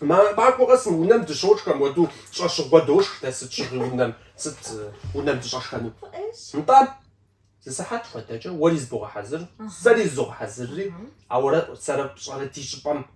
Махуэ къэс мы унэм дыщошхэм уэ, дэ щӏэщыгъуэ дошх дэ сыт щыгъуи унэм, сыт унэм дыщӏэшхэну. Нтӏэ, зы сыхьэт хуэдэкӏэ уэри зыбогъэхьэзыр, сэри зызогъэхьэзырри, ауэрэ сэрэ пщӏэрэ ди щӏыпӏэм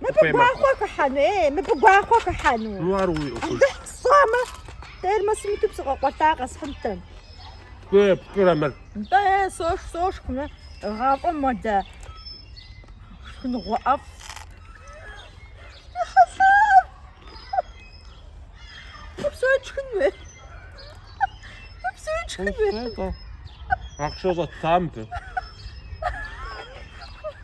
Мыбы гуахъуэ хыхьэну, ей, мыбы гуахъуэ хыхьэну. Ну, ар уи ӏуэхуж. Сщӏамэ, термосым иту псы къэкъуэлъа къэсхьынтэм. Пкӏэрэ мыр. Нтӏэ, е, сошх, сошх, мэ, гъафӏэм модэ. Шхыныгъуэ ӏэфӏ. Хьэсэм! Псо тшхынщ, е. Псо тшхынщ, е. Ахъшэ щӏэттамэ, бе.